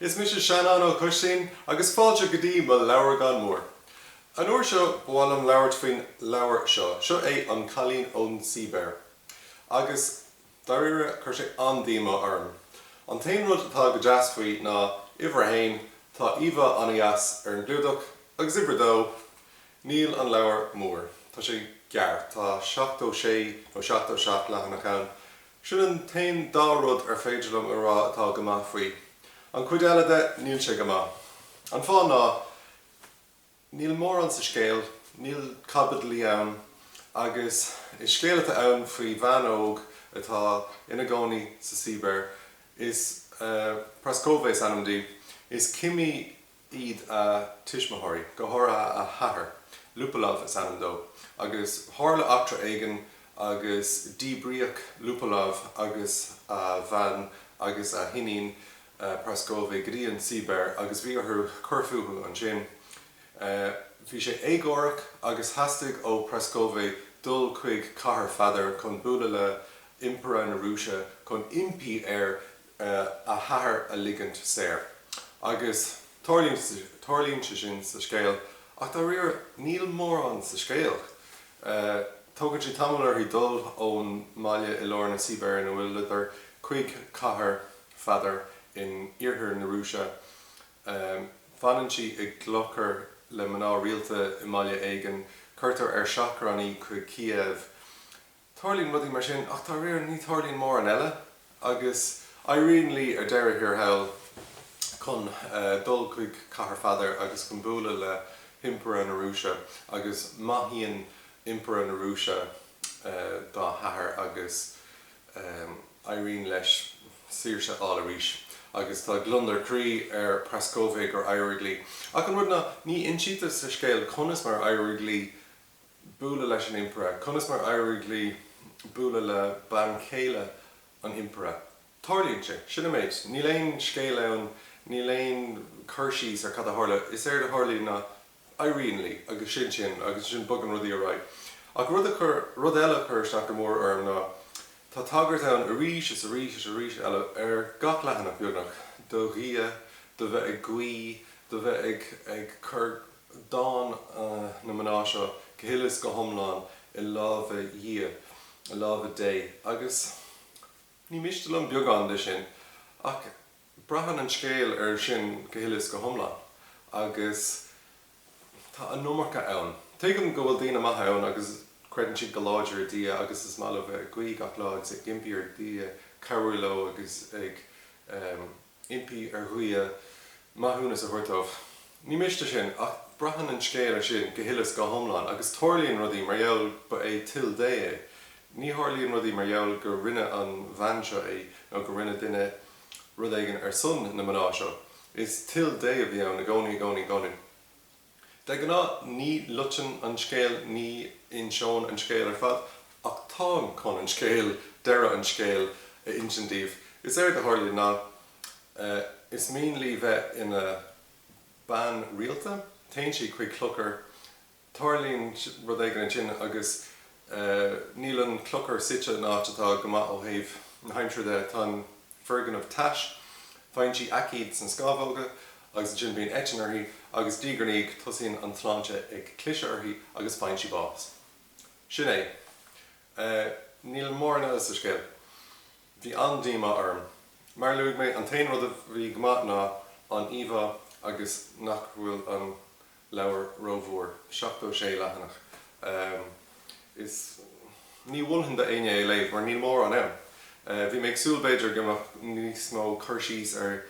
Is mise Seanán Ó Coistín agus fáilte go dtí mo leabhragán mór. An uair seo ba mhaith liom labhairt faoin leabhar seo. Seo é An Cailín ón tSíbéir. Agus, dáiríre, chuir sé an-díomá orm. An t-aon rud atá go deas faoi ná, uimhir a haon, tá íomhá an-dheas ar an gclúdach agus uimhir a dó, níl an leabhar mór. Tá sé gearr, tá seachtó sé nó seachtó seacht leathanach ann. Sin an t-aon dá rud ar féidir liom a rá atá go maith faoi. An chuid eile de, níl sé go maith. An fáth ná níl mórán sa scéal, níl caibidlí ann agus is scéal atá ann faoi bhean óg atá ina gcónaí sa tSibéir is Praskovy is ainm di, is cimí iad a tuismitheoirí, go háirithe a hathair. Lupolov is ainm dó, agus tharla eachtra éigin agus díbríodh Lupolov agus a bhean agus a hiníon, Praskovy, go dtí an tSibéir agus bhí orthu cur fúthu ansin. Bhí sé éagórach agus theastaigh ó Praskovy dul chuig Cathair Pheadair chun bualadh le hImpire na Rúise chun impí air a hathair a ligint saor. Agus tarlaíonn sé sin sa scéal, ach dáiríre níl mórán sa scéal. Tógann sé tamall uirthi dul ón mbaile i lár na Sibéire, nó a leithéid, chuig Cathair Pheadair in iarthar na Rúise. Fanann sí i gclochar le mná rialta i mbaile éigin, cuirtear ar seachrán í chuig Cíév, Tarlaíonn rudaí mar sin, ach dáiríre, ní tharlaíonn mórán eile, agus éiríonn léi ar deireadh thiar thall chun dul chuig Cathair Pheadair agus chun bualadh le hImpire na Rúise, agus maithíonn Impire na Rúise dá hathair agus éiríonn leis saoirse a fháil arís. Agus tá gliondar croí ar Praskovy gur éirigh léi. Ach an rud ná, ní insítear sa scéal conas mar a éirigh léi bualadh leis an Impire, conas mar éirigh léi bualadh le bean chéile an Impire. Tarlaíonn sé. Sin an méid. Níl aon scéal ann, níl aon cur síos ar cad a tharla. Is éard a tharlaíonn ná éiríonn léi agus sin sin agus ansin bogann rudaí ar aghaidh. Ach rud a chuir, rud eile a chuir isteach go mór orm ná tá tagairt ann arís is arís is arís eile, ar gach leathanach beagnach, do Dhia, do bheith ag guí, do bheith ag, ag cur, dán na mná seo go huile is go hiomlán i lámha Dhia, i lámha Dé, agus ní miste liom beagán de sin, ach braitheann an scéal air sin go huile is go hiomlán, agus tá an iomarca ann. Tuigim go bhfuil daoine maithe ann agus creideann siad go láidir i nDia agus is maith leo bheith ag guí gach lá agus ag impí ar Dhia cabhrú leo agus ag. impí ar Dhia maithiúnas a thabhairt dóibh. Ní miste sin, ach braitheann an scéal air sin go huile is go hiomlán, agus tarlaíonn rudaí mar gheall ba é toil Dé é. Ní tharlaíonn rudaí mar gheall gur rinne an bhean seo é, nó gur rinne duine rud éigin ar son na mná seo. Is toil Dé a bhí ann i gcónaí, i gcónaí, i gcónaí. De ghnáth ní loitinn an scéal, ní inseoinn an scéal ar fad, ach táim chun an scéal, deireadh an scéil, a insint daoibh. Is éard a tharlaíonn ná, is mian leí bheith ina bean rialta, téann sí chuig clochar, tarlaíonn rud éigin ansin agus níl an clochar suite in áit atá go maith ó thaobh na haimsire de, tá an. foirgneamh tais, faigheann sí aicíd sna scámhóga agus ansin bíonn eitinn uirthi agus diaidh ar ndiaidh tosaíonn an tsláinte ag cliseadh uirthi agus faigheann sí bás. Sin é. Níl mórán eile sa scéal. Bhí an-díomá orm. Mar a luaigh mé, an t-aon rud a bhí go maith ná an íomhá agus nach bhfuil an. leabhar rómhór, 76 leathanach, is ní mholfainn do éinne é léamh mar níl mórán ann. Bhí mé ag súil b'fhéidir go mbeadh níos mó cur síos ar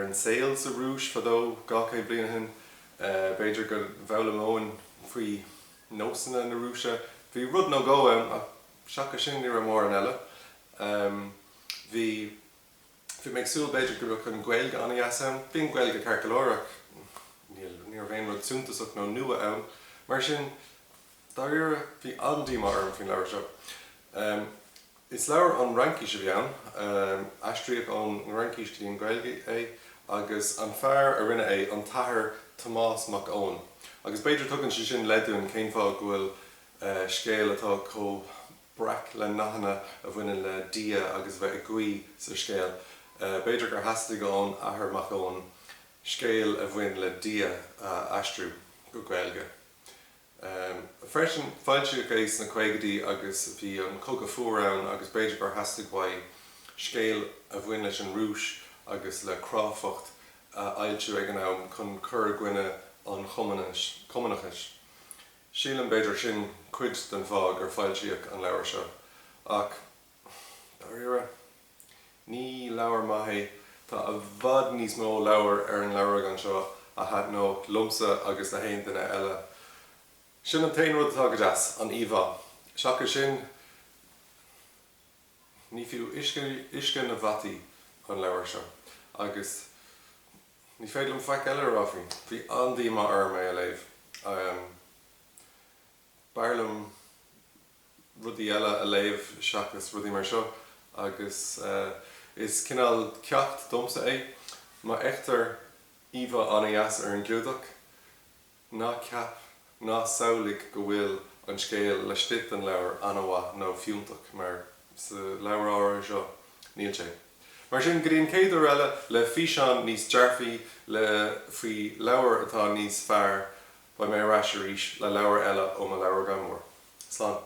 an saol sa Rúis fadó dhá chéad bliain ó shin, b'fhéidir go bhfoghlaimeoinn faoi nósanna na Rúise. Bhí rud nó dhó ann ach seachas sin ní raibh mórán eile. Bhí. Bhí mé ag súil b'fhéidir go mbeadh an Ghaeilge an-deas ann. Bhí an Ghaeilge ceart go leor ach ní raibh aon rud suntasach nó nua ann. Mar sin, dáiríre, bhí an-díomá orm faoin leabhar seo. Is leabhar ón Fhraincis a bhí ann, aistríodh ón Fhraincis go dtí an Ghaeilge é agus an fear a rinne é, an tAthair Tomás Mac Eoin, agus b'fhéidir tugann sé sin leid dúinn cén fáth go bhfuil scéal atá chomh breac le nathanna a bhaineann le Dia agus a bheith ag guí sa scéal. B'fhéidir gur theastaigh ón Athair Mac Eoin scéal a bhain le Dia a aistriú go Gaeilge freisin. Foilsíodh é sna caogaidí agus bhí an Cogadh Fuar ann agus b'fhéidir gur theastaigh uaidh scéal a bhain leis an Rúis agus le cráifeacht a fhoilsiú ag an am chun cur i gcoinne an Chumannachais. Sílim, b'fhéidir, sin cuid den fáth gur foilsíodh an leabhar seo. Ach, dáiríre, ní leabhar maith é. Tá i bhfad níos mó leabhar ar an leabhragán seo a thaitneodh liomsa agus le haon duine eile. Sin an t-aon rud atá go deas, an íomhá. Seachas sin, ní fiú uisce na bhfataí an leabhar seo. Agus. Ní féidir liom faic eile a rá faoi. Bhí an-díomá orm é a léamh. B'fhearr liom rudaí eile a léamh seachas rudaí mar seo agus is cineál ceacht domsa é. Má fheictear íomhá an-deas ar an gclúdach, Ná ceap ná samhlaigh go bhfuil an scéal laistigh den leabhar an-mhaith nó fiúntach, mar sa leabhar áirithe seo, níl sé. Mar sin, go dtí an chéad uair eile, le físeán níos dearfaí, le, faoi leabhar atá níos fearr, beidh mé ar ais arís le leabhar eile ó mo leabhragán mór. Slán.